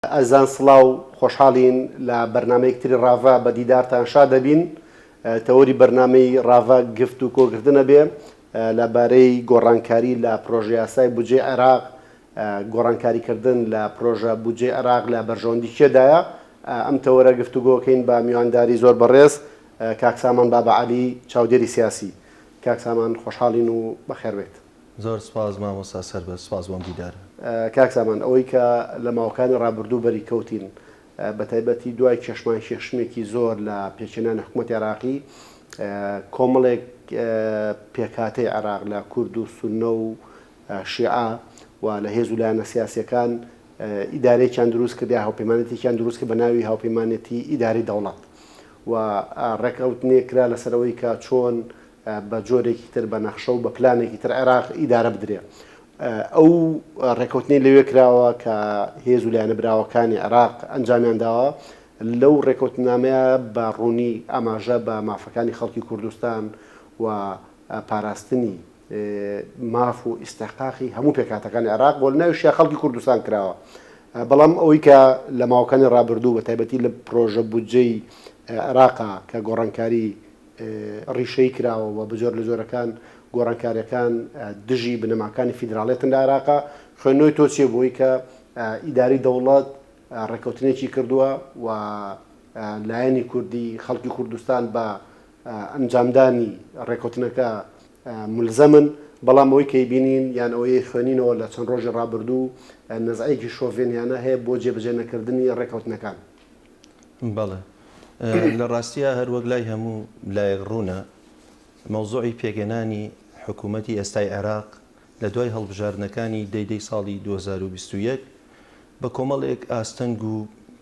ئەزان سڵاو، خۆشحاڵین لە بەرنامەیەک تری ڕاڤە بە دیدارتان شادەبین. تەوەری بەرنامەی ڕاڤە گفت و کۆکردن ئەبێ لە بارەی گۆڕانکاری لە پرۆژەیاسای بودجەی عێراق، گۆڕانکاری کردن لە پرۆژە بودجەی عێراق لە بەرژەوەندی کێ دایە؟ ئەم تەوەرە گفتوگۆ ئەکەین بە میوانداری زۆر بەڕێز کاک سامان بابەعەلی چاودێری سیاسی. کاک سامان خۆشحاڵین و بەخێربێیت. زۆر سپاس مامۆستا سەربەرز سپاس بۆم دیدار. کاک سامان ئەوەی کە لە ماوەکانی ڕابردوو بەری کەوتین بە تایبەتی دوای کێشمان کێشمێکی زۆر لە پێکهێنانی حکومەتی عێراقی کۆمەڵێک پێکهاتەی عێراق لە کورد و سوننە و شیعە و لە هێز و لایەنە سیاسیەکان ئیدارەیەکیان دروست کرد یا هاوپەیمانێتێکیان دروست کرد بە ناوی هاوپەیمانێتی ئیداری دەوڵەت و ڕێکەوتنێک کرا لەسەر ئەوەی کە چۆن بە جۆرێکی تر، بە نەخشە و بە پلانێکی تر عێراق ئیدارە بدرێ. ئەو رێکەوتنەی لەوێ کراوە کە هێز و لایەنە براوەکانی عێراق ئەنجامیان داوە، لەو رێکەوتننامەیە بە روونی ئاماژە بە مافەکانی خەڵکی کوردستان و پاراستنی ماف و ئیستحقاقی هەموو پێکهاتەکانی عێراق و لە ناویشیا خەڵکی کوردستان کراوە. بەڵام ئەوەی کە لە ماوەکانی رابردوو بە تایبەتی لە پرۆژە بودجەی عێراقا کە گۆڕانکاری ڕیشەیی کراوە و بە جۆر لە جۆرەکان گۆڕانکارییەکان دژی بنەماکانی فیدراڵیەتن لە عێراقا، خوێندنەوەی تۆ چییە بۆی کە ئیدارەی دەوڵەت ڕێککەوتنێکی کردووە و لایەنی کوردی خەڵکی کوردستان بە ئەنجامدانی ڕێککەوتنەکە مولزەمن، بەڵام ئەوەی کەی بینین یان ئەوەی خوێنینەوە لە چەند ڕۆژی ڕابردوو نەزعەیەکی شۆڤێنیانە هەیە بۆ جێبەجێ نەکردنی ڕێککەوتنەکان. بەڵێ لە ڕاستیا هەر وەک لای هەموو لایەک ڕوونە مەوزوعی پێکهێنانی حکوومەتی ئێستای عێراق لە دوای هەڵبژاردنەکانی دەی دەی ساڵی دوو هەزار و بیست و یەک بە کۆمەڵێک ئاستەنگ و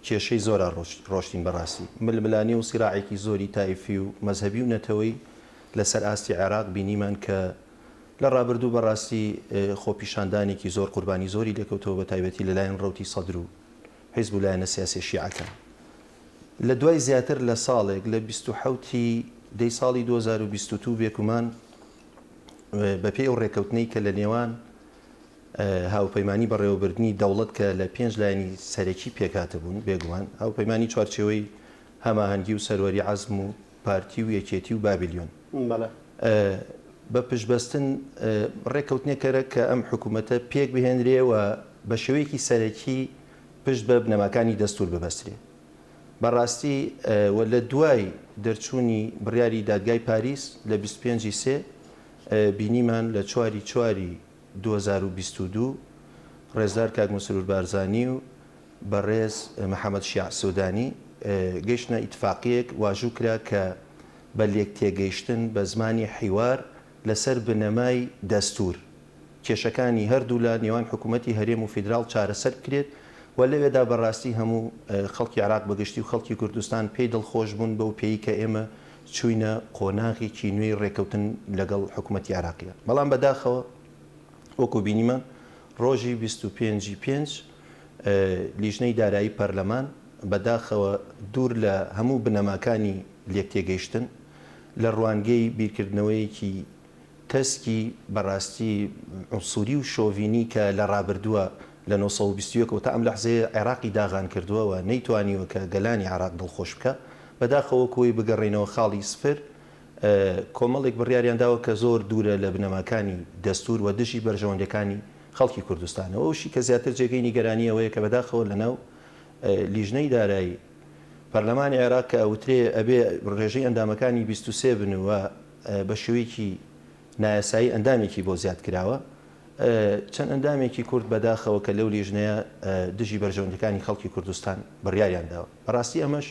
کێشەی زۆرا ڕۆشتین بە ڕاستی ململانێ و سیراعێکی زۆری تایفی و مەزهەبی و نەتەوەی لە سەر ئاستی عێراق بینیمان کە لە ڕابردوو بە ڕاستی خۆپیشاندانێکی زۆر قوربانی زۆری لێکەوتەوە بە تایبەتی لە لایەن ڕەوتی سەدر و حیزب و لایەنە سیاسیە شیعەکان لە دوای زیاتر لە ساڵێک لە بیست و حەوت ی دەی ساڵی دوو هەزار و بیست و دوو بێگومان بە پێی ئەو ڕێکەوتنەی کە لە نێوان هاوپەیمانی بەڕێوەبردنی دەوڵەت کە لە پێنج لایەنی سەرەکی پێکهاتە بوون بێگومان هاوپەیمانی چوارچێوەی هەماهەنگی و سەروەری عەزم و پارتی و یەکێتی و بابلیۆن. بەڵێ. بە پشتبەستن ڕێککەوتنێکەرە کە ئەم حکوومەتە پێک بهێنرێ و بە شێوەیەکی سەرەکی پشت بە بنەماکانی دەستوور ببەسترێ. بە ڕاستی و لە دوای دەرچوونی بڕیاری دادگای پاریس لە بیست و پێنج ی سێ بینیمان لە چوار ی چوار ی دوو هەزار و بیست و دوو ڕێزدار کاک مەسرور بارزانی و بەڕێز محەمەد شیاع سودانی، گەیشتنە ئیتفاقیەک واژوو کرا کە بە لێکتێگەیشتن بە زمانی حیوار لەسەر بنەمای دەستور کێشەکانی هەردوولا نێوان حکومەتی هەرێم و فیدراڵ چارەسەر بکرێت و لەوێدا بەڕاستی هەموو خەڵکی عێراق بەگشتی و خەڵکی کوردستان پێی دڵخۆش بوون بەو پێی کە ئێمە چووینە قۆناغێکی نوێی ڕێکەوتن لەگەڵ حکومەتی عێراقیدا بەڵام بەداخەوە وەکو بینیمان ڕۆژی بیست و پێنج ی پێنج لیژنەی دارایی پەرلەمان بەداخەوە دوور لە هەموو بنەماکانی لێکتێگەیشتن، لە ڕوانگەی بیرکردنەوەیەکی تەسکی بەڕاستی عونسوری و شۆڤینی کە لە ڕابردووە لە نۆ سەد و بیست و یەک ەوە تا ئەم لەحزەیە عێراقی داغان کردووە و نەیتوانیوە کە گەلانی عێراق دڵخۆش بکا بەداخەوە وەکو ئەوەی بگەڕێینەوە خاڵی سفر کۆمەڵێک بڕیاریان داوە کە زۆر دوورە لە بنەماکانی دەستور و دژی بەرژەوەندیەکانی خەڵکی کوردستان. ئەو ئەوشی کە زیاتر جێگەی نیگەرانی ئەوەیە کە بەداخەوە لەناو لیژنەی دارایی پەرلەمانی عێراق کە ئەوترێ ئەبێ رێژەی ئەندامەکانی بیست و سێ بن و بە شێوەیەکی نایاسایی ئەندامێکی بۆ زیاد کراوە چەند ئەندامێکی کورد بەداخەوە کە لەو لیژنەیە دژی بەرژەوەندەکانی خەڵکی کوردستان بڕیاریان داوە بەڕاستی ئەمەش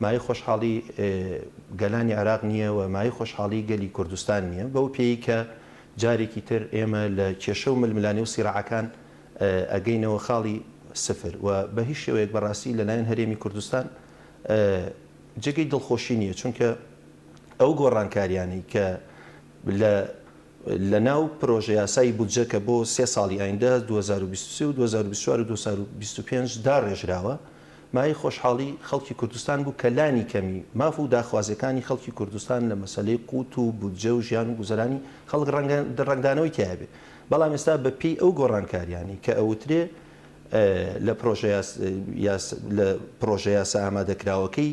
مای خۆشحاڵی گەلانی عراق نییە و مای خۆشحاڵی گەلی کوردستان نییە بەو پێی کە جارێکی تر ئێمە لە کێشە و ململانێ و سیراعەکان ئەگەینەوە خاڵی سفر و بە هیچ شێوەیەک بە ڕاستی لە لایەن هەرێمی کوردستان جێگەی دڵخۆشی نییە چونکە ئەو گۆڕانکاریانەی کە لە لە ناو پرۆژەیاسای بودجە کە بۆ سێ ساڵی ئایندە، دوو هەزار و بیست و سێ و دوو هەزار و بیست و چوار و دوو هەزار و بیست و پێنج، داڕێژراوە، مایەی خۆشحاڵی خەڵکی کوردستان بوو کە لانی کەمی ماف و داخوازیەکانی خەڵکی کوردستان لە مەسەلەی قوت و بودجە و ژیان و گوزەرانی خەڵک ڕەنگە دڵڕەنگدانەوەی تیایە بێ بەڵام ئێستا بە پێی ئەو گۆڕانکاریانەی کە ئەوترێ لە پرۆژە یاسا لە پرۆژە یاسا ئامادەکراوەکەی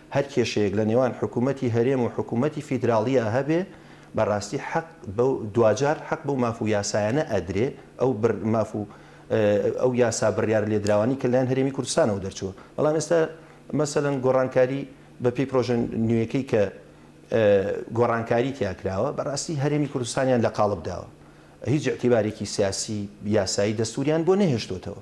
هەر کێشەیەک لە نێوان حکوومەتی هەرێم و حکوومەتی فیدراڵییا هەبێ، بە ڕاستی حەق بەو، دواجار حەق بەو ماف و یاسایانە ئەدرێ، ئەو بر، ماف و ئەو یاسا بڕیارە لێدراوانەی کە لەلایەن هەرێمی کوردستانەوە دەرچووە. بەڵام ئێستا مەسەلەن گۆڕانکاری بە پێی پرۆژە نوێیەکەی کە گۆڕانکاری تیا کراوە، بە ڕاستی هەرێمی کوردستانیان لە قاڵب داوە. هیچ ئیعتیبارێکی سیاسی، یاسایی، دەستووریان بۆ نەهێشتۆتەوە.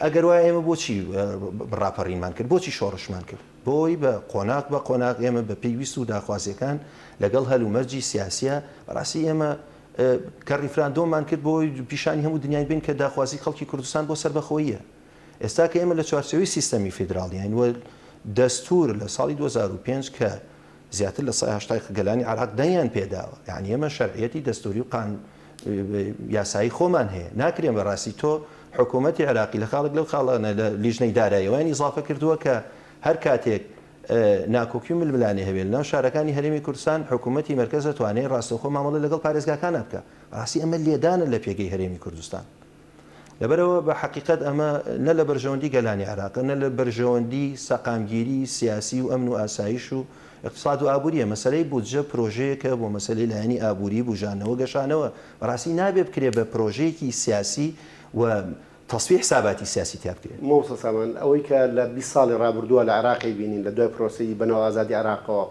ئەگەر وایە ئێمە بۆچی ڕاپەڕینمان کرد، بۆچی شۆڕشمان کرد؟ بۆی بە قۆناغ بە قۆناغ ئێمە بە پێی ویست و داخوازیەکان لەگەڵ هەل و مەرجی سیاسیە بەڕاستی ئێمە کە ڕیفراندۆمان کرد بۆی پیشانی هەموو دنیای بین کە داخوازی خەڵکی کوردستان بۆ سەربەخۆییە ئێستا کە ئێمە لە چوارچێوەی سیستەمی فیدراڵیین و دەستور لە ساڵی دوو هەزار و پێنج کە زیاتر لە سەد و هەشتا گەلانی عێراق دەنگیان پێداوە یەعنی ئێمە شەرعیەتی دەستوری و قان یاسایی خۆمان هەیە ناکرێن بەڕاستی تۆ حکوومەتی عێراقی لە خاڵک لەو خاڵانە لە لیژنەی دارایەوەیان ئیزافە کردووە کە هەر کاتێک ناکۆکی و ململانێ هەبێت لەناو شارەکانی هەرێمی کوردستان حکوومەتی مەرکەز دەتوانێت ڕاستەوخۆ مامەڵە لەگەڵ پارێزگاکانە بکە ڕاستی ئەمە لێدانە لە پێگەی هەرێمی کوردستان لەبەرئەوە بە حەقیقەت ئەمە نە لە بەرژەوەندی گەلانی عێراقە نە لە بەرژەوەندی سەقامگیری سیاسی و ئەمن و ئاسایش و ئیقتساد و ئابوریە. مەسەلەی بودجە پرۆژەیەکە بۆ مەسەلەی لایەنی ئابوری، بوژانەوە، گەشانەوە. بەڕاستی نابێ بکرێ بە پرۆژەیەکی سیاسی و تەسفیە حساباتی سیاسی تیا بکرێ. مامۆستا سامان، ئەوەی کە لە بیست ساڵی ڕابردووە لە عێراقی بینین لە دوای پرۆسەی بەناو ئازادی عێراقەوە،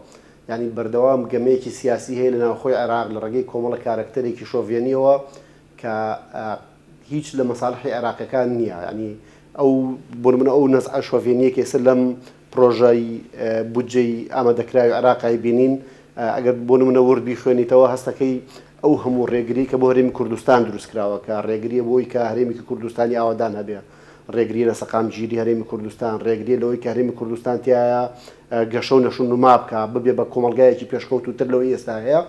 یانی بەردەوام گەمەیەکی سیاسی هەیە لە ناوخۆی عێراق لە ڕێگەی کۆمەڵە کارەکتەرێکی شۆڤێنیەوە کە هیچ لە مەسالحی عێراقیەکان نیە یانی ئەو بۆ نمونە ئەو نەزعە شۆڤێنیە کە ئێستا لەم پرۆژەی بودجەی ئامادەکراوی عێراق ئەیبینین ئەگەر بۆ نمونە ورد بیخوێنیتەوە هەستەکەی ئەو هەموو ڕێگری کە بۆ هەرێمی کوردستان دروستکراوە کە ڕێگریە بۆ ئەوی کە هەرێمێکی کوردستانی ئاوەدان هەبێ ڕێگری لە سەقامگیری هەرێمی کوردستان ڕێگری لەوەی کە هەرێمی کوردستان تایە گەشە و نەشونما بکا ببێ بە کۆمەڵگایەکی پێشکەوتوتر لەوەی ئێستا هەیە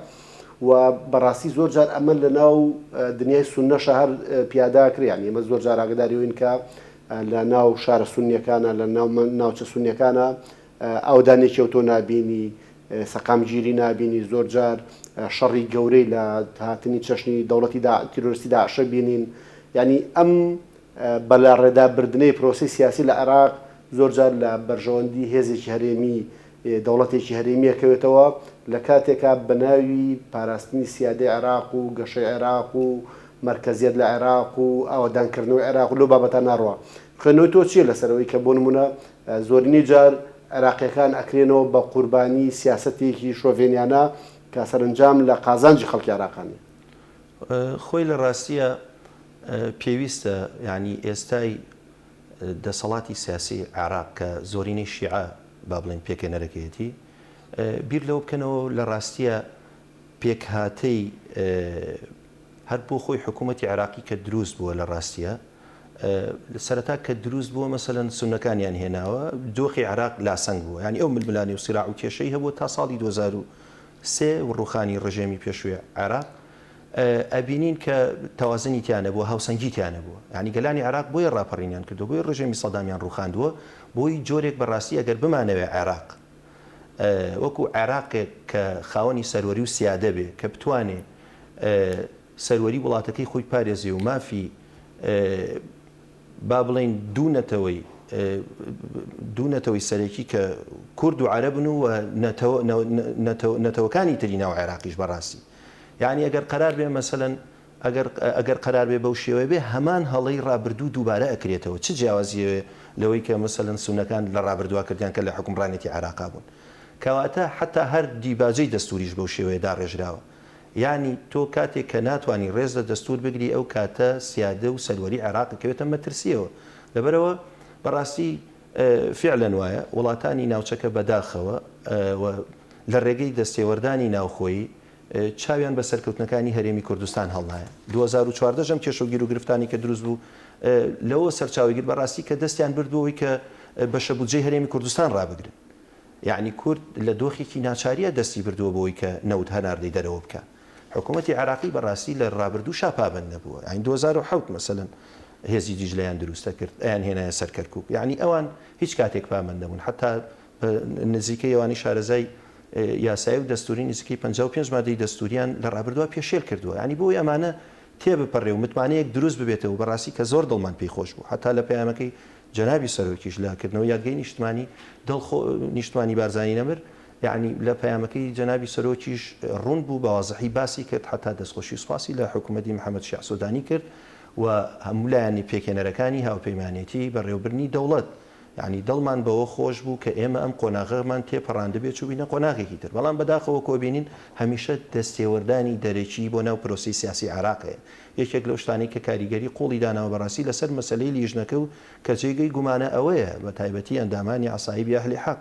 و بەڕاستی زۆر جار ئەمە لە ناو دنیای سوننەشا هەر پیادا ئەکرێ یانی ئێمە زۆر جار ئاگەداری ئەوین کە لە ناو شارە سوننیەکانا لە ناو ناوچە سوننیەکانا ئاوەدانێکی ئەوتۆ نابینی سەقامگیری نابینی زۆر جار شەڕی گەورەی لە هاتنی چەشنی دەوڵەتی دا تیرۆرستی داعشە بینین یانی ئەم بەلاڕێدا بردنەی پرۆسی سیاسی لە عێراق زۆر جار لە بەرژەوەندی هێزێکی هەرێمی دەوڵەتێکی هەرێمی ئەکەوێتەوە لە کاتێکا بە ناوی پاراستنی سیادەی عێراق و گەشەی عێراق و مەرکەزیەت لە عێراق و ئاوەدان کردنەوەی عێراق و لەو بابەتان ناڕوا خوێندنەوەی تۆ چیە لەسەر ئەوەی کە بۆ نمونە زۆرینەی جار عێراقیەکان ئەکرێنەوە بە قوربانی سیاسەتێکی شۆڤێنیانە کە سەرەنجام لە قازانجی خەڵکی عێراقا نیە؟ خۆی لە ڕاستیە پێویستە یانی ئێستای دەسەڵاتی سیاسی عێراق کە زۆرینەی شیعە، با بڵێین پێکهێنەرەکەیەتی، بیر لەوە بکەنەوە لە ڕاستییە پێکهاتەی هەر بۆ خۆی حکوومەتی عێراقی کە دروست بووە لە ڕاستییە سەرەتا کە دروست بووە مەسەن سونەکانیان هێناوە دۆخی عراق لاسەنگ بووە ینی ئەو ململانی و سیرا و کێشەی هەبوو تا ساڵی 2023 و ڕوخانی ڕژێمی پێشوێ عێراق ئەبینین کە تەوازنی تیا نەبووە، هاوسەنگی تیا نەبووە. یانی گەلانی عێراق بۆیە ڕاپەڕینیان کردووە، بۆیە ڕژێمی سەدامیان ڕووخاندووە، بۆی جۆرێک بە ڕاستی ئەگەر بمانەوێ عێراق وەکوو عێراقێک کە خاوەنی سەروەری و سیادە بێ کە بتوانێ سەروەری وڵاتەکەی خۆی بپارێزێ و مافی با بڵێین دوو نەتەوەی دوو نەتەوەی سەرەکی کە کورد و عەرەبن و نەتەوەکانی تری ناو عێراقیش بەڕاستی یەعنی ئەگەر قەرار بێ مەسەلەن ئەگەر ئەگەر قەرار بێ بەو شێوەیە بێ هەمان هەڵەی ڕابردوو دووبارە ئەکرێتەوە چ جیاوازیەێ لەوەی کە مەسەلەن سونەکان لە ڕابردوا کردیان کە لە حوکمڕانێتی عێراقا بوون کەواتە حەتا هەر دیباجەی دەستووریش بەو شێوەیە داڕێژراوە یەعنی تۆ کاتێک کە ناتوانی ڕێز لە دەستوور بگری ئەو کاتە سیادە و سەروەری عێراق ئەکەوێتە مەترسیەوە لەبەرەوە بەڕاستی فیعلەن وایە، وڵاتانی ناوچەکە بەداخەوە و لە رێگەی دەستێوەردانی ناوخۆیی چاویان بە سەرکەوتنەکانی هەرێمی کوردستان هەڵنایە. دوو هەزار و چواردە ئەم کێشە و گیروگرفتانەی کە دروست بوو لەوەوە سەرچاوەی گرت بەڕاستی کە دەستیان برد بۆوەی کە بەشە بودجەی هەرێمی کوردستان رابگرن. یەعنی کورد لە دۆخێکی ناچارییە دەستی بردووە بۆوەی کە نەوت هەناردەی دەرەوە بکات. حکومەتی عێراقی بەڕاستی لە ڕابردووشا پابەند نەبووە یانی دوو هەزار و حەوت مەسەلەن هێزی دیجلەیان درووستە کرد ئەیان هێنایە سەر کەرکوک یانی ئەوان هیچ کاتێک پابەند نەبوون حەتا بە نزیکەی ئەوانی شارەزای یاسایی و دەستووری نزیکەی پەنجا و پێنج مادەی دەستووریان لە ڕابردووا پێشێل کردووە یانی بۆ ئەوەی ئەمانە تێبپەڕێ و متمانەیەک درووست ببێتەوە و بەڕاستی کە زۆر دڵمان پێی خۆش بوو حەتا لە پەیامەکەی جەنابی سەرۆکیش لە کردنەوەی یادگەی نیشتمانی دڵ خۆ نیشتمانی بارزانی نەمر یەعنی لە پەیامەکەی جەنابی سەرۆکیش ڕوون بوو بە وازحی باسی کرد حەتا دەستخۆشی و سوپاسی لە حکوومەتی محەمەد شیاع سوودانی کرد و هەموو لایەنی پێکهێنەرەکانی هاوپەیمانێتیی بەڕێوەبردنی دەوڵەت یەعنی دڵمان بەوە خۆش بوو کە ئێمە ئەم قۆناغەمان تێ پەڕاندبێ چووبینە قۆناغێکی تر بەڵام بەداخەوە کۆبینین هەمیشە دەستێوەردانی دەرەکی بۆ ناو پرۆسەی سیاسی عێراق هەیە یەکێک لەو شتانەی کە کاریگەری قووڵی داناوە بەڕاستی لەسەر مەسەلەی لیژنەکە و کە جێگەی گومانە ئەوەیە بەتایبەتی ئەندامانی عەسایبی ئەهلی حەق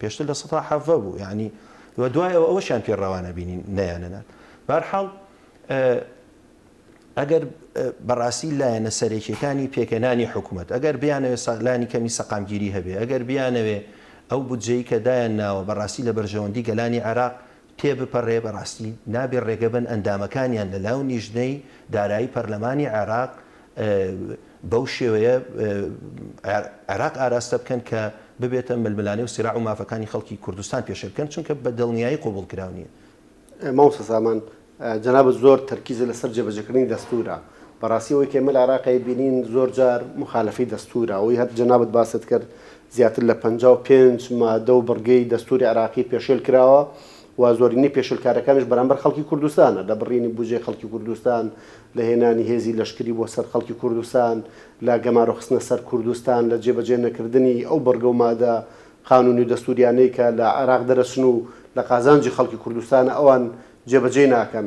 پێشتر لە سەتا حەڤە بوو یانی وە دوای ئەوە ئەوەشیان پێ ڕەوا نەبینی نەیانەنارد بەرحاڵ ئەگەر بەڕاستی لایەنە سەرەکیەکانی پێکەنانی حکوومەت ئەگەر بیانەوێت سەلانی کەمی سەقامگیری هەبێ ئەگەر بیانەوێ ئەو بودجەی کە دایان ناوە بەڕاستی لە بەرژەوەندی گەلانی عێراق تێبپەڕێ بەڕاستی نابێ ڕێگەبەن ئەندامەکانیان لە لاو نیژنەی دارایی پەرلەمانی عێراق بەو شێوەیە عێراق ئاراستە بکەن کە ببێتە ململانێ و سراع و مافەکانی خەڵکی کوردستان پێشێل بکەن چونکە بە دڵنیایی قبوڵ کراو نییە. مامۆستا سامان جەنابت زۆر تەرکیزت لەسەر جێبەجێکردنی دەستوورە بەڕاستی ئەوەی کە ئێمە لە عێراق ئەیبینین زۆر جار موخالەفەی دەستوورە ئەوەی هەر جەنابت باست کرد زیاتر لە پەنجا و پێنج مادە و بڕگەی دەستووری عێراقی پێشێل کراوە و زۆرینەی پێشێلکارەکانیش بەرامبەر خەڵکی کوردستانە، لە بڕینی بودجەی خەڵکی کوردستان، لە هێنانی هێزی لەشکری بۆ سەر خەڵکی کوردستان، لە گەمارۆ خستنە سەر کوردستان، لە جێبەجێ نەکردنی ئەو بڕگە و مادە قانونی و دەستووریانەی کە لە عێراق دەرەچن و لە قازانجی خەڵکی کوردستانە ئەوان جێبەجێی ناکەن.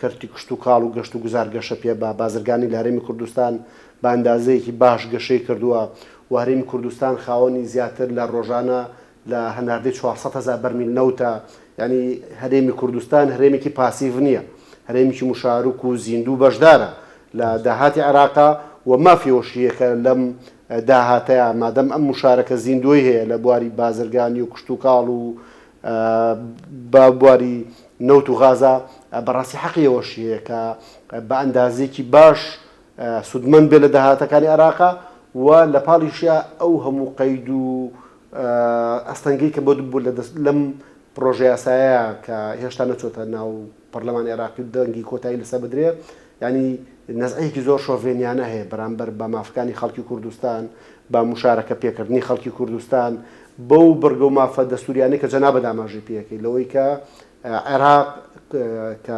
کەرتی کشتوکاڵ و گەشتوگوزار گەشەپێبا، بازرگانی لە هەرێمی کوردستان بە ئەندازەیەکی باش گەشەی کردووە و هەرێمی کوردستان خاوەنی زیاتر لە ڕۆژانە لە هەناردەی چوار سەد هەزار بەرمیل نەوتە، یانی هەرێمی کوردستان هەرێمێکی پاسیڤ نییە، هەرێمێکی مشارک و زیندوو بەشدارە لە داهاتی عێراقا و مافی ئەوەشی هەیە کە لەم داهاتەیا مادەم ئەم مشارکە زیندووەی هەیە لە بواری بازرگانی و کشتوکاڵ و بە بواری نەوت و غازا، بەڕاستی حەقی ئەوەشی هەیە کە بە ئەندازەیەکی باش سوودمەند بێت لە داهاتەکانی عێراق و لە پاڵیشا ئەو هەموو قەید و ئەستەنگەی کە بۆت بوو لەم پڕۆژەیاسایە کە هێشتا نەچۆتە ناو پەڕلەمانی عێراقی دەنگی کۆتایی لەسەر بدرێ یانی نەزعەیەکی زۆر شۆڤێنیانە هەیە بەرامبەر بە مافەکانی خەڵکی کوردستان بە موشارەکە پێکردنی خەڵکی کوردستان بەو بڕگە و مافە دەستوریانەی کە جەنابە داماژەی پێەکەی لەوەی کە عێراق کە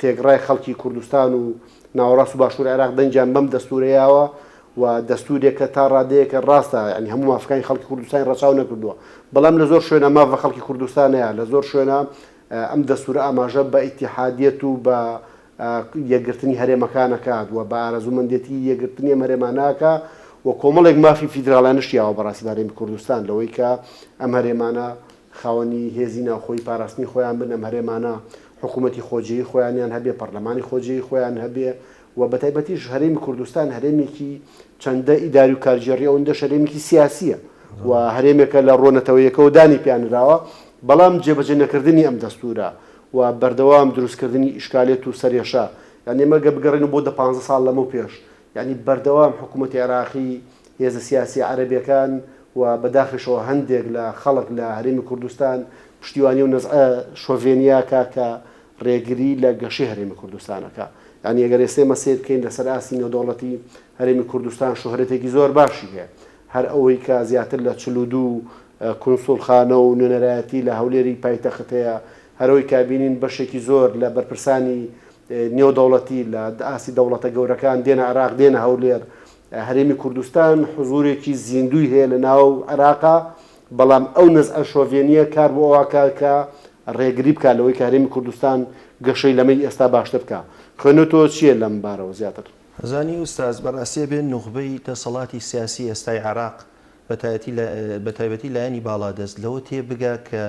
تێگڕای خەڵکی کوردستان و ناوەڕاست و باشوور عێراق دەنگیان بەم دەستورەیەوە و دەستورێکە تا ڕادەیەکە ڕاستە ینی هەموو مافەکانی خەڵکی کوردستانی ڕەچاو نەکردووە بەڵام لە زۆر شوێنە ماف بە خەڵکی کوردستانەیە لە زۆر شوێنە ئەم دەستورە ئاماژە بە ئیتیحادیەت و بە یەکگرتنی هەرێمەکان ئەکات و بە ئارەزوومەندێتی یەکگرتنی ئەم هەرێمانە ئەکا و کۆمەڵێک مافی فیدراڵیانە شیاوە بە ڕاستی بە هەرێمی کوردستان لەوەی کە ئەم هەرێمانە خاوەنی هێزی ناوخۆی پاراستنی خۆیان بن، ئەم هەرێمانە حکوومەتی خۆجێی خۆیانیان هەبێ، پەڕلەمانی خۆجێی خۆیان هەبێ و بەتایبەتیش هەرێمی کوردستان هەرێمێکی چەندە ئیداری و کارگێڕیە ئەوەندەش هەرێمێکی سیاسیە و هەرێمێکە لە ڕووە نەتەوەیەکەوە دانی پیانراوە بەڵام جێبەجێ نەکردنی ئەم دەستورە و بەردەوام دروست کردنی ئیشکالێت و سەرێشە یان ئێمە گەر بگەڕێنەوە بۆ دە پانزە ساڵ لەمەو پێش یانی بەردەوام حکومەتی عێراقی هێزە سیاسیە عەرەبیەکان و بەداخیشەوە هەندێک لە خەڵک لە هەرێمی کوردستان پشتیوانی و نەزعە شۆڤێنیاکە کە ڕێگری لە گەشەی هەرێمی کوردستان ئەکا. یانی ئەگەر ئێستا ئێمە سەیر بکەین لەسەر ئاستی نێودەوڵەتی هەرێمی کوردستان شۆهرەتێکی زۆر باشی هەیە. هەر ئەوەی کە زیاتر لە چل و دوو کونسوڵخانە و نوێنەرایەتی لە هەولێری پایتەخت هەیە، هەر ئەوەی کە ئەبینین بەشێکی زۆر لە بەرپرسانی نێودەوڵەتی لە ئاستی دەوڵەتە گەورەکان دێنە عێراق دێنە هەولێر. هەرێمی کوردستان حزورێکی زیندووی هەیە لە ناو عێراقا، بەڵام ئەو نەزعە شۆڤێنییە کار بۆ ئەوە ئەکا کە ڕێگری بکات لەوەی کە هەرێمی کوردستان گەشەی لەمەی ئێستا باشتر بکا. خوێنەوەی تۆ چییە لەم بارەوە زیاتر؟ زانی ئوستاز، بەڕاستی ئەبێ نوخبەی دەسەڵاتی سیاسی ئێستای عێراق بە تایبەتی لایەنی باڵادەست لەوە تێبگا کە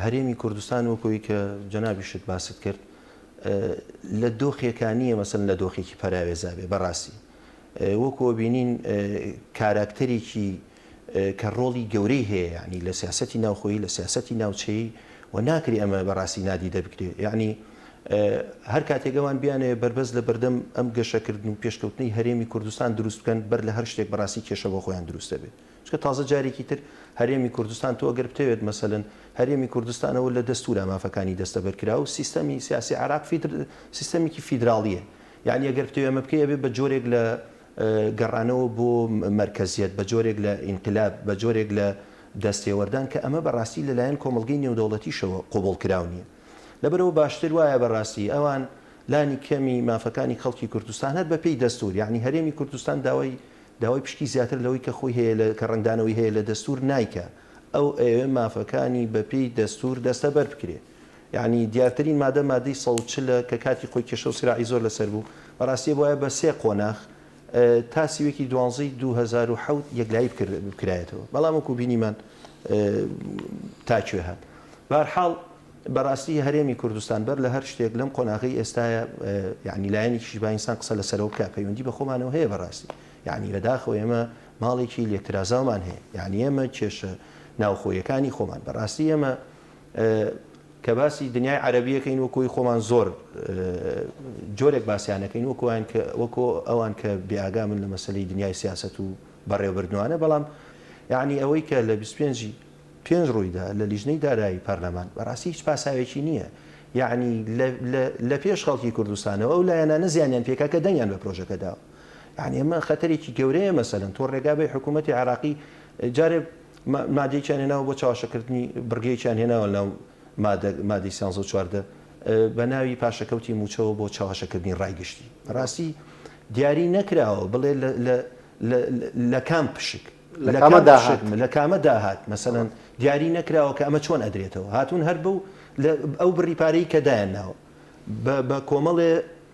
هەرێمی کوردستان وەک ئەوی کە جەنابیشت باست کرد لە دۆخێکا نییە مەسەن لە دۆخێکی پەراوێزا بێ بەڕاستی وەکووە بینین کاراکتەرێکی کە ڕۆڵی گەورەی هەیە یەعنی لە سیاسەتی ناوخۆیی لە سیاسەتی ناوچەیی و ناکری ئەمە بە ڕاستی نادیدە بگرێ یەعنی هەر کاتێک ئەوان بیانەوێ بەربەست لە بەردەم ئەم گەشە کردن و پێشکەوتنەی هەرێمی کوردستان دروست بکەن بەر لە هەر شتێک بە ڕاستی کێشە بۆ خۆیان دروست دەبێ چکە تازە جارێکی تر هەرێمی کوردستان تۆ گەر بتەوێت مەسەلەن هەرێمی کوردستانەوە لە دەستورا مافەکانی دەستەبەر کرا و سیستەمی سیاسی عراق فیدر سیستەمێکی فیدراڵیە یعنی ئەگەر بتەوێ ئەمە بکەی ئەبێ بە جۆرێک لە گەڕانەوە بۆ مەرکەزیەت بە جۆرێک لە ئینقلاب، بە جۆرێک لە دەستێوەردان کە ئەمە بەڕاستی لەلایەن کۆمەڵگەی نێودەوڵەتیشەوە قبوڵکراو نیە. لەبەرئەوە باشتر وایە بەڕاستی ئەوان لانی کەمی مافەکانی خەڵکی کوردستان هەر بە پێی دەستور یانی هەرێمی کوردستان داوای داوای پشکی زیاتر لەوەی کە خۆی هەیە لە کە ڕەنگدانەوەی هەیە لە دەستور نایکا ئەو ئەیەوێ مافەکانی بە پێی دەستور دەستەبەر بکرێ. یەعنی دیارترین مادە مادەی سەد و چل ە کە کاتی خۆی کێشە و سراعی زۆر لەسەر بوو بەڕاستی ئەبوایە بە سێ قۆناخ تا سیوێکی دوانزە ی دوو هەزار و حەوت یەکلایی بکرد بکرایەتەوە بەڵام وەکو بینیمان تا کوێ هات بە هەر حاڵ بەڕاستی هەرێمی کوردستان بەر لە هەر شتێک لەم قۆناغەی ئێستایە یەعنی لایەنێکیش با ئینسان قسە لەسەرەوە بکا پەیوەندی بە خۆمانەوە هەیە بەڕاستی یەعنی بەداخەوە ئێمە ماڵێکی لێکترازاومان هەیە یەعنی ئێمە کێشە ناوخۆیەکانی خۆمان بەڕاستی ئێمە کە باسی دنیای عەرەبی ئەکەین وەکو هی خۆمان زۆر جۆرێک باسیان ئەکەین وەکو ئەوان کە وەکو ئەوان کە بێئاگامن لە مەسەلەی دنیای سیاسەت و بەڕێوەبردنوانە بەڵام یەعنی ئەوەی کە لە بیست و پێنج ی پێنج ڕوویدا لە لیژنەی دارایی پەرلەمان بەڕاستی هیچ پاساوێکی نییە یەعنی لە پێش خەڵکی کوردستانەوە ئەو لایەنانە زیانیان پێکا کە دەنگیان بە پرۆژەکە داوە یەعنی ئەمە خەتەرێکی گەورەیە مەسەلەن تۆ ڕێگا بەی حکوومەتی عێراقی جارێ مادەیەکیان هێناوە بۆ چاواشەکردنی بڕگەیەکیان هێناوە ناو مادە مادەی سیانزە و چواردە بە ناوی پاشەکەوتی مووچەوە بۆ چاواشەکردنی ڕای گشتی بەڕاستی دیاری نەکراوە بڵێ لە لە کام پشک لە کامە داهات لە کامە داهات مەسەن دیاری نەکراوە کە ئەمە چۆن ئەدرێتەوە هاتوون هەر بەو ئەو بڕی پارەی کە دایان ناوە بە کۆمەڵێ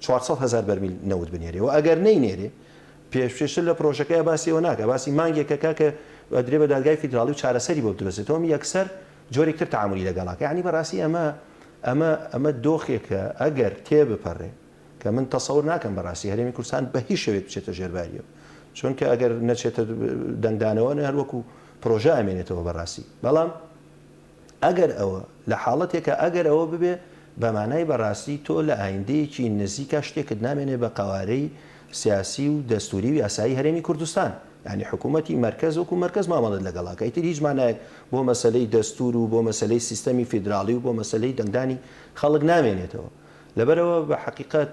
چوار سەد هەزار بەرمیل نەوت بنێرێ و ئەگەر نەینێرێ پێشتر لە پرۆژەکەیا باسی ئەوە ناکا باسی مانگێکەکا کە ئەدرێ بە دادگای فیدراڵی و چارەسەری بۆ بدرۆزێ تۆم یەکسەر جۆرێک تر تەعامولی لەگەڵا کە یەعنی بەڕاستی ئەمە ئەمە ئەمە دۆخێکە ئەگەر تێبپەڕێ کە من تەسەور ناکەم بەڕاستی هەرێمی کوردستان بە هیچ شێوەیەک بچێتە ژێر باریەوە چونکە ئەگەر نەچێتە دەنگدانەوە نە هەروەکو پرۆژە ئەمێنێتەوە بەڕاستی بەڵام ئەگەر ئەوە، لە حاڵەتێکا ئەگەر ئەوە ببێ، بە مانای بە ڕاستی تۆ لە ئایندەیەکی نزیکا شتێکت نامێنێ بە قەوارەی سیاسی و دەستووری و یاسایی هەرێمی کوردستان. یانی حکوومەتی مەرکەز وەکوو مەرکەز مامەڵەت لەگەڵ ئەکا. ئیتر هیچ مانایەک بۆ مەسەلەی دەستوور و بۆ مەسەلەی سیستەمی فیدراڵی و بۆ مەسەلەی دەنگدانی خەڵک نامێنێتەوە. لەبەرئەوە بە حەقیقەت،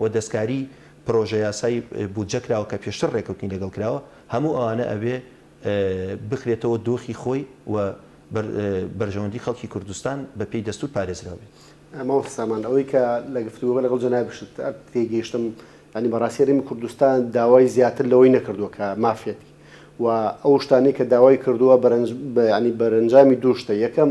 و دەستکاری پرۆژەیاسای بودجە کراوە کە پێشتر رێکەوتنی لەگەڵ کراوە، هەموو ئەوانە ئەبێ بخرێتەوە دۆخی خۆی و بەرژەوەندی خەڵکی کوردستان بە پێی دەستور پارێزراو بێت. مامۆستا سامان ئەوەی کە لە گفتوگۆکە لەگەڵ جەنابیشت تێگەیشتم یانی بەڕاستی هەرێمی کوردستان داوای زیاتر لەوەی نەکردووە کە مافێتی و ئەو شتانەی کە داوای کردووە بەرەنج یانی بەرەنجامی دوو شتە یەکەم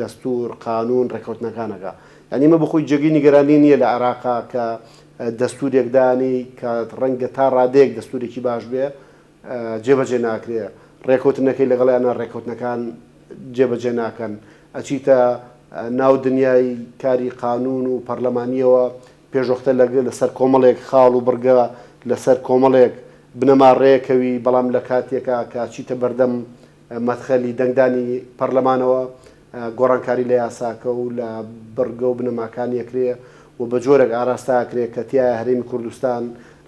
دەستور، قانون، ڕێکەوتنەکانەکە. یانی ئەمە بەخۆی جێگەی نیگەرانی نییە لە عێراقا کە دەستورێک دانی کە ڕەنگە تا ڕادەیەک دەستورێکی باش بێ جێبەجێ ناکرێ، ڕێکەوتنەکەی لەگەڵیانا ڕێکەوتنەکان جێبەجێ ناکەن، ئەچیتە ناو دنیای کاری قانون و پەرلەمانییەوە، پێشوەختە لەسەر کۆمەڵێک خاڵ و بڕگە لەسەر کۆمەڵێک بنەما ڕێکەوی، بەڵام لە کاتێکا کە ئەچیتە بەردەم مەدخەلی دەنگدانی پەرلەمانەوە، گۆڕانکاری لە یاساکە و لە بڕگە و بنەماکانی ئەکرێ و بە جۆرێک ئاراستە ئەکرێ کە تیایا هەرێمی کوردستان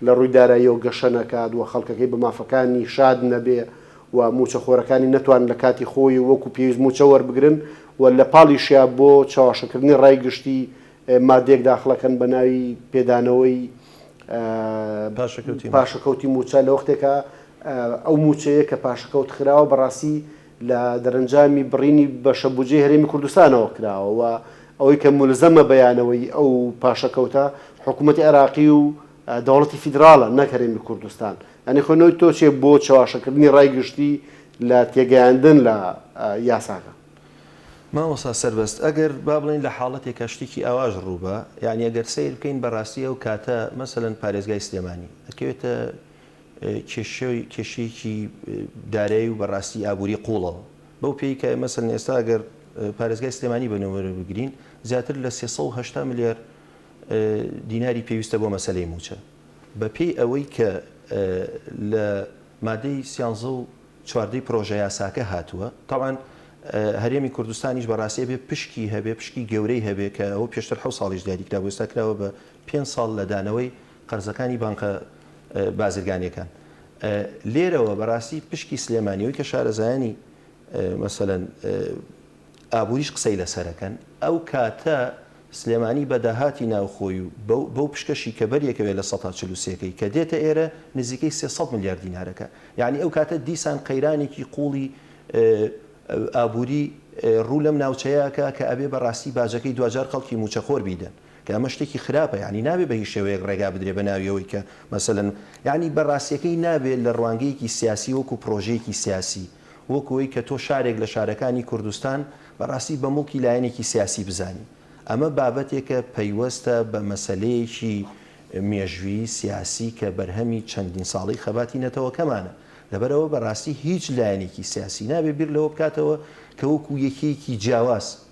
لە ڕووی داراییەوە گەشە نەکات و خەڵکەکەی بە مافەکانی شاد نەبێ و مووچەخۆرەکانی نەتوانن لە کاتی خۆی و وەکو پێویست مووچە وەربگرن و لە پاڵیشیا بۆ چەواشەکردنی ڕای گشتی مادەیەک داخڵەکەن بە ناوی پێدانەوەی پاشەکەوتی پاشەکەوتی مووچە لە وەختێکا ئەو مووچەیە کە پاشەکەوت خراوە بەڕاستی لە دەرەنجامی بڕینی بەشە بودجەی هەرێمی کوردستانەوە کراوە و ئەوەی کە مولزەمە بیانەوەی ئەو پاشەکەوتە حکوومەتی عێراقی و دەوڵەتی فیدراڵە نەک هەرێمی کوردستان یانی خۆ نەوەی تۆ چێ بۆ چەواشەکردنی ڕای گشتی لە تێگەیاندن لە یاساکە. مامۆستا سەربەست ئەگەر با بڵێین لە حاڵەتێکا شتێکی ئاواش ڕووبا یەعنی ئەگەر سەیر بکەین بەڕاستی ئەو کاتە مەسەلەن پارێزگای سلێمانی ئەکەوێتە کێشەی کێشەیەکی دارایی و بەڕاستی ئابووری قوڵەوە بەو پێی کە مەسەلەن ئێستا ئەگەر پارێزگای سلێمانی بە نموونە بگرین زیاتر لە سێ سەد و هەشتا ملیار دیناری پێویستە بۆ مەسەلەی مووچە بە پێی ئەوەی کە لە مادەی سیانزە و چواردەی پرۆژەیاساکە هاتووە، تەبعەن هەرێمی کوردستانیش بەڕاستی ئەبێ پشکی هەبێ، پشکی گەورەی هەبێ کە ئەوە پێشتر حەوت ساڵیش دیاری کرابوو، ئێستا کراوە بە پێنج ساڵ لە دانەوەی قەرزەکانی بانکە بازرگانییەکان. لێرەوە بەڕاستی پشکی سلێمانی ئەوەی کە شارەزایانی مەسەلەن ئابووریش قسەی لەسەرەکەن ئەو کاتە سلێمانی بە داهاتی ناوخۆی و بەو پشکەشی کە بەریەکەوێ لە سەتا چل و سێکەی کە دێتە ئێرە نزیکەی سێ سەد ملیار دینارەکە یانی ئەو کاتە دیسان قەیرانێکی قوڵی ئابووری ڕوو لەم ناوچەیەکە کە ئەبێ بە ڕاستی باجەکەی دواجار خەڵکی مووچەخۆر بیدەن کە ئەمە شتێکی خراپە یانی نابێ بە هیچ شێوەیەک ڕێگا بدرێ بە ناویەوەی کە مەسەلەن یانی بە ڕاستیەکەی نابێ لە ڕوانگەیەکی سیاسی وەکو پرۆژەیەکی سیاسی وەکو ئەوەی کە تۆ شارێک لە شارەکانی کوردستان بەڕاستی بە موڵکی لایەنێکی سیاسی بزانی، ئەمە بابەتێکە پەیوەستە بە مەسەلەیەکی مێژوویی سیاسی کە بەرهەمی چەندین ساڵەی خەباتی نەتەوەکەمانە، لەبەرئەوە بەڕاستی هیچ لایەنێکی سیاسی نابێت بیر لەوە بکاتەوە کە وەکو یەکێکی جیاواز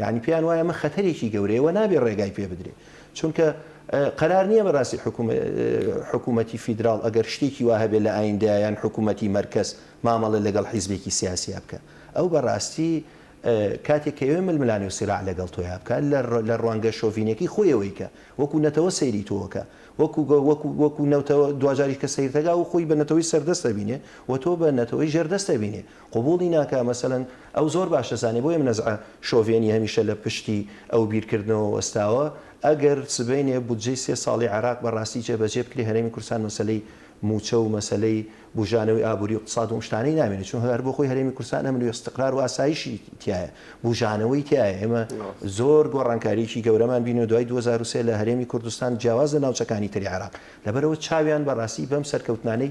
یانی پێیان وایە ئەمە خەتەرێکی گەورەیە و نابێ ڕێگای پێ بدرێ چونکە قەرار نییە بەڕاستی حکوومەتی فیدراڵ ئەگەر شتێکی وا هەبێت لە ئایندە یان حکوومەتی مەرکەز مامەڵە لەگەڵ حیزبێکی سیاسیا بکە ئەو بەڕاستی کاتێک کەوێ ململانی و سیرا لەگەڵ تۆیا بکە لە ڕوانگە شۆڤینەکەی خۆیەوەی کە وەکو نەتەوە سەیری تۆکە وەکو وەکو وەکو نەوتەوە دواجاری کە سیرتەگا و خۆی بە نەتەوەی سەردەستە بینێ و تۆ بە نەتەوەی ژێردەستە بینێ قبوڵی ناکا مەسەلەن ئەو زۆر باش دەزانێ بۆیە نەزعە شۆڤێنی هەمیشە لە پشتی ئەو بیرکردنەوە وەستاوە ئەگەر سبەینێ بودجەی سێ ساڵی عێراق بە ڕاستی جێبەجێ بکرێ هەرێمی کوردستان مەسەلەی موچە و مەسەلەی بوژانەوەی ئابوری و اقتصاد و ئەم شتانەی نامێنێ چون هەر بۆ خۆی هەرێمی کوردستان ئەمن و استقرار و ئاسایشی تیایە بوژانەوەی تیایە ئێمە زۆر گۆڕانکاریەکی گەورەمان بینیوە دوای دوو هەزار و سێ لە هەرێمی کوردستان جیاواز لە ناوچەکانی تری عێراق لەبەرئەوە چاویان بە ڕاستی بەم سەرکەوتنانەی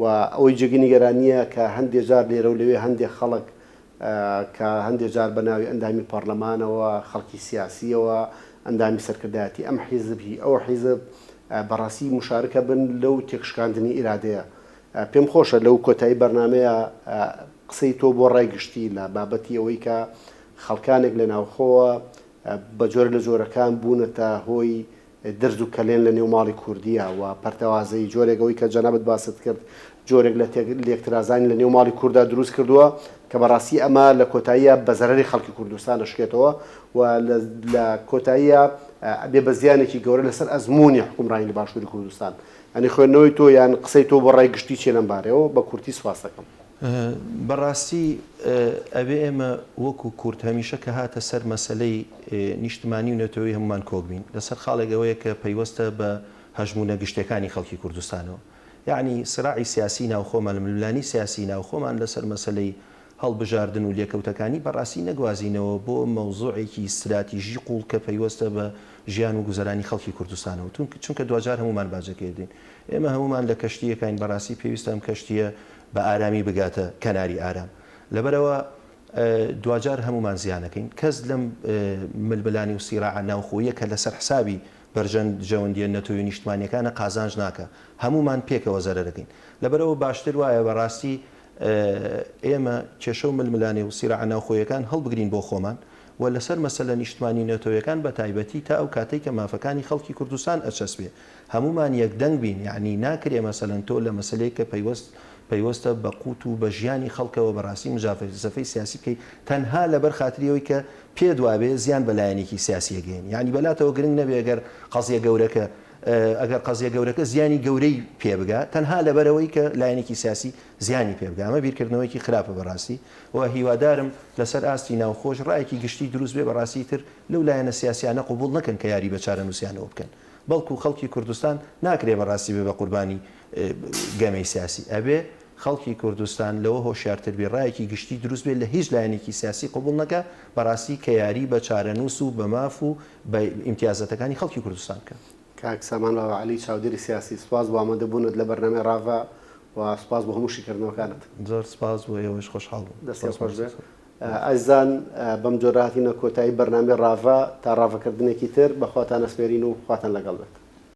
و ئەوەی جێگەی نیگەرانییە کە هەندێ جار لێرە و لەوێ هەندێ خەڵک کە هەندێ جار بە ناوی ئەندامی پارلەمانەوە، خەڵکی سیاسییەوە، ئەندامی سەرکردایەتی ئەم حیزب هی ئەو حیزب بە ڕەسیی موشارکە بن لەو تێکشکاندنی ئیرادەیە. پێم خۆشە لەو کۆتایی بەرنامەیە قسەی تۆ بۆ ڕای گشتی لە بابەتی ئەوەی کە خەڵکانێک لە ناوخۆوە بە جۆرە لە جۆرەکان بوونەتە هۆی درز و کەلێن لە نێو ماڵی کوردیە و پەرتەوازەیی جۆرێک ئەوەی کە جەنابت باست کرد جۆرێک لە تێک لێکترازانی لە نێو ماڵی کورددا دروست کردووە کە بە ڕاستی ئەمە لە کۆتاییا بە زەرەری خەڵکی کوردستان ئەشکێتەوە و لە لە کۆتاییا ئەبێ بە زیانێکی گەورە لە سەر ئەزموونی حوکمڕانی لە باشووری کوردستان. یانی خوێندنەوەی تۆ یان قسەی تۆ بۆ ڕای گشتی چیە لەم بارەیەوە؟ بە کورتی سوپاستەکەم. بەڕاستی ئەبێ ئێمە وەکو کورد هەمیشە کە هاتە سەر مەسەلەی نیشتمانی و نەتەوەیی هەموومان کۆک بین لەسەر خاڵێک ئەوەیە کە پەیوەستە بە هەژموونە گشتیەکانی خەڵکی کوردستانەوە یەعنی سراعی سیاسی ناوخۆمان و ململانی سیاسی ناوخۆمان لەسەر مەسەلەی هەڵبژاردن و لێکەوتەکانی بەڕاستی نەگوازینەوە بۆ مەوزوعێکی ستراتیژی قوڵ کە پەیوەستە بە ژیان و گوزەرانی خەڵکی کوردستانەوە چونکە دواجار هەموومان باجەکەی دەدەین ئێمە هەموومان لە کەشتیەکاین بەڕاستی پێویستە ئەم کەشتیە بە ئارامی بگاتە کەناری ئارام لەبەرئەوە دواجار هەموومان زیان ئەکەین کەس لەم ململانێ و سیراعە ناوخۆییە کە لەسەر حسابی بەرژەوەندیە نەتەوەی و نیشتمانیەکانە قازانج ناکا هەموومان پێکەوە زەرەر ئەکەین لەبەرئەوە باشتر وایە بەڕاستی ئێمە کێشە و ململانێ و سیراعە ناوخۆیەکان هەڵبگرین بۆ خۆمان و لەسەر مەسەلە نیشتمانی و نەتەوەیەکان بەتایبەتی تا ئەو کاتەی کە مافەکانی خەڵکی کوردستان ئەچەسپێ هەموومان یەک دەنگ بین یەعنی ناکرێ مەسەلەن تۆ لە مەسەلەیەک کە پەیوەست پەیوەستە بە قوت و بە ژیانی خەڵکەوە بە ڕاستی مجافەفەی سیاسی بکەی تەنها لەبەر خاتری ئەوەی کە پێت وابێ زیان بە لایەنێکی سیاسی ئەگەیەنی یەعنی بەلاتەوە گرنگ نەبێ گەر قەزیە گەورەکە ئەگەر قەزیە گەورەکە زیانی گەورەی پێ بگا تەنها لەبەرئەوەی کە لایەنێکی سیاسی زیانی پێ بگا ئەمە بیرکردنەوەیەکی خراپە بە ڕاستی و هیوادارم لەسەر ئاستی ناوخۆش ڕایەکی گشتی دروست بێ بە ڕاستی تر لەو لایەنە سیاسیانە قبوڵ نەکەن کە یاری بە چارەنوسیانەوە بکەن. بەڵکو خەڵکی کوردستان ناکرێ بەڕاستی بێ بە قوربانی گەمەی سیاسی ئەبێ خەڵکی کوردستان لەوە هۆشیارتر بێ ڕایەکی گشتی دروست بێ لە هیچ لایەنێکی سیاسی قبوڵ نەکا بەڕاستی کە یاری بە چارەنووس و بە ماف و بە ئیمتیازاتەکانی خەڵکی کوردستان بکەن. کاک سامان راڤە عەلی چاودێری سیاسی، سوپاس بۆ ئامادە بوونت لە بەرنامەی راڤە و سوپاس بۆ هەموو شیکردنەوەکانت. زۆر سوپاس بۆ ئێوەش خۆشحاڵ بووم. دەستێ خۆش بێ. ئەزیزان بەم جۆرە هاتینە کۆتایی بەرنامەی ڕاڤە، تا ڕاڤەکردنێکی تر بەخواتان ئەسپێرین و خواتان لەگەڵ بێت.